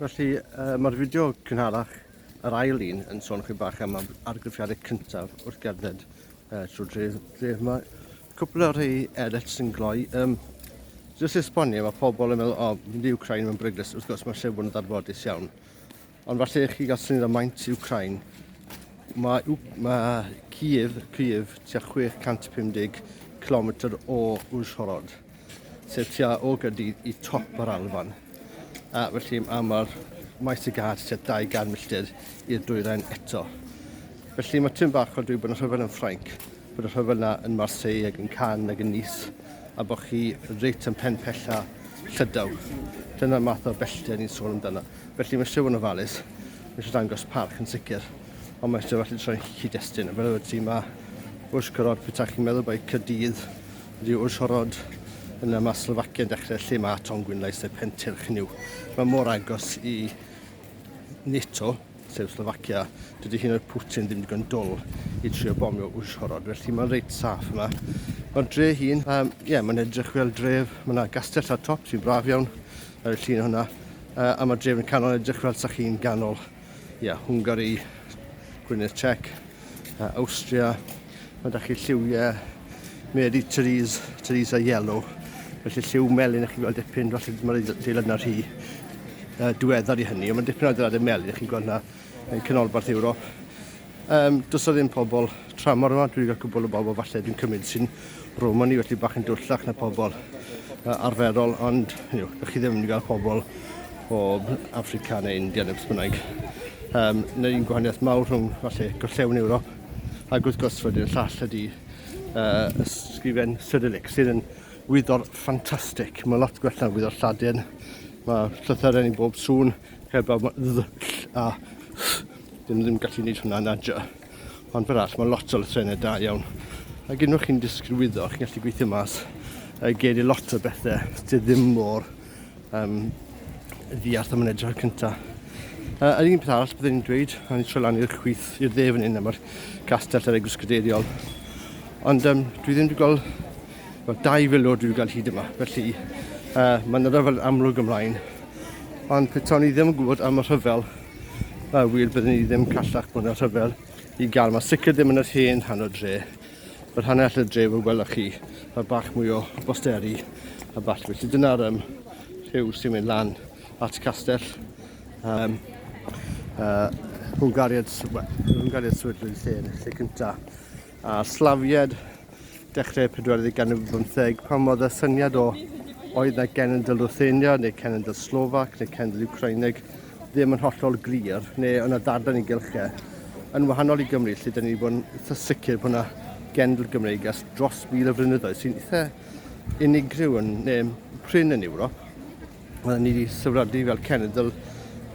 Felly, uh, mae'r fideo cynharach, yr ail un, yn sôn chi bach am argraffiadau cyntaf wrth gerdded uh, trwy dref, dref yma. Cwpl o'r rhai eraill sy'n gloi. Um, Jyst esbonio, mae pobl yn meddwl, o, oh, mynd i Ukraine mae'n bryglus. Wrth gwrs, mae lle bod yn ddarfodus iawn. Ond falle i chi gael syniad o maint Ukraine, mae, mae Kiev, Kiev tua 650 km o Uzhhorod, sef tua o gydy i top yr Alban. A felly a mae'r maes y gad tua 200 milltir i'r dwyrain eto. Felly mae tyn bach o dwi bod yn rhyfel yn Ffrainc, bod y rhyfel yna yn Marseille ac yn Cannes ac yn Nice, a bod chi reit yn pen pella llydaw. Dyna'r math o bellter ni'n sôn amdano. Felly mae Siôn ofalus, mae eisiau dangos parch yn sicr, ond mae eisiau felly troi'n cyd-destun. Fel y ti mae wrth gorod pwyta chi'n meddwl bod cydydd wedi wrth gorod yna mae Slovakia yn dechrau lle mae Tom Gwynlais neu Pentyrch yn yw. Mae mor agos i NATO, sef Slovakia, dydy hyn o'r Putin ddim digon dwl i trio bomio wrth gorod, felly mae'n reit saff yma. Mae'r dre hun, um, yeah, mae'n edrych fel dref, mae yna gastell ar top sy'n braf iawn, Ar y llun hwnna, uh, am y drefn canol edrych fel sa chi'n ganol, ia, yeah, Hwngari, Gwynedd Czech, uh, Austria, mae da chi lliwiau Mary Therese, Theresa Yellow, felly lliw melyn ych chi'n gweld dipyn, falle mae'r adeilad yna rhy uh, diweddar i hynny, ond mae dipyn o adeiladau melyn ych chi'n gweld yna yn canolbarth Ewrop. Yym, does 'na ddim pobl tramor yma, dwi'n cael cwbl o bobl falle dwi'n cymryd sy'n Romani, felly bach yn dwllach na pobl uh, arferol, ond you know, chi ddim yn cael pobl o Africa neu India neu beth bynnag. Um, Yna un gwahaniaeth mawr rhwng falle gorllewin Ewrop ac wrth gwrs wedyn y llall ydy uh, ysgrifen Cyrillic sydd yn wyddor ffantastig. Mae lot gwell na'n wyddor Lladin. Mae llythyren i bob sŵn, heb a Dyn nhw ddim yn gallu gwneud hwnna yn adra. Ond fel arall, mae lot o lythrennau da iawn. Ac unwaith chi'n disgrywyddo, chi'n gallu gweithio mas y geir i lot o bethau sydd ddim mor um, ddiarth am yn edrych ar cyntaf. Uh, yr un peth arall byddwn i'n dweud, a ni'n troi lan i'r chwith i'r dde fan hyn, mae'r castell ar egwrs gadeiriol. Ond um, dwi ddim wedi gweld, well, dau filwr dwi wedi gweld hyd yma, felly uh, mae'n rhyfel amlwg ymlaen. Ond petawn i ddim yn gwybod am y rhyfel, Mae wir byddwn ni ddim callach bod yn rhyfel i gael. Mae sicr ddim yn yr hen rhan o dre. Mae'r rhan all y dre fe gwelwch chi, mae bach mwy o bosteri a ball. Felly dyna'r um, rhyw sy'n mynd lan at castell um, uh, Hwngariad, well, Hwngariad Swyddlwyd lle yn y lle cyntaf. A'r slafied dechrau'r pedwerydd ganrif ar bymtheg, pan oedd y syniad o oedd na genedl Ruthenia neu cenedl Slovac neu cenedl Ukraineg ddim yn hollol glir, neu yna ddarllen i gylchau, e, yn wahanol i Gymru, lle dyn ni wedi bod yn eitha sicr bod yna genedl Gymreig ers dros mil o flynyddoedd sy'n eitha unigryw yn neu prin yn Ewrop. Oedden ni wedi sefydlu fel cenedl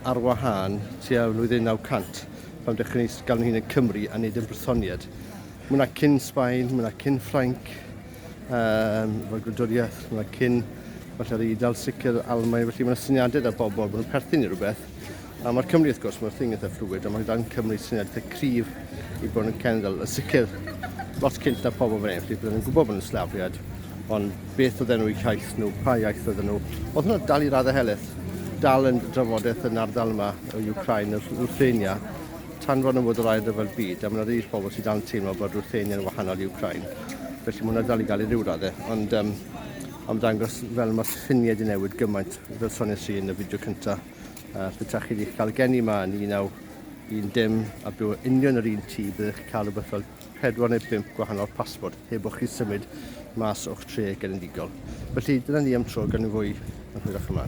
ar wahân tua flwyddyn 900 pan dechrau ni gael nhw'n hun yn Cymru a nid yn Brysoniad. Mae hwnna cyn Sbaen, mae hwnna cyn Ffrainc, um, fel gwladwriaeth, mae hwnna cyn falle yr Eidal, sicr Almaen, felly mae yna syniadau da bobl bod nhw'n perthyn i rhywbeth. A mae'r Cymru, wrth gwrs, mae'r thing eitha fluid, a mae dan Cymru sy'n edrych y cryf i bod yn cenedl. Yn sicr, lot cynt na pobl fan hyn, felly byddwn yn gwybod bod yn slafiad, ond beth oedd enw iaith nhw, pa iaith oedd nhw. Oedd hwnna dal i raddau heleth, dal yn drafodaeth yn ardal yma o Ukraine, yr Ruthenia, tan fod yn fod yr ail ryfel byd, a mae yna rhai pobl sydd dan teimlo bod Ruthenia yn wahanol i Ukraine. Felly mae hwnna dal i gael ei ryw raddau, ond um, am ddangos fel mae syniad i newid gymaint. Fel sonies i yn y fideo cynta, uh, os byddwch chi wedi cael gen i yma yn 1910 a byw yn union yr un tŷ, byddwch chi'n cael rhywbeth fel 4 neu 5 gwahanol pasbort heb o'ch chi symud mas o'ch tre genedigaol. Felly dyna ni am tro gan fwy yn hwyrach yma.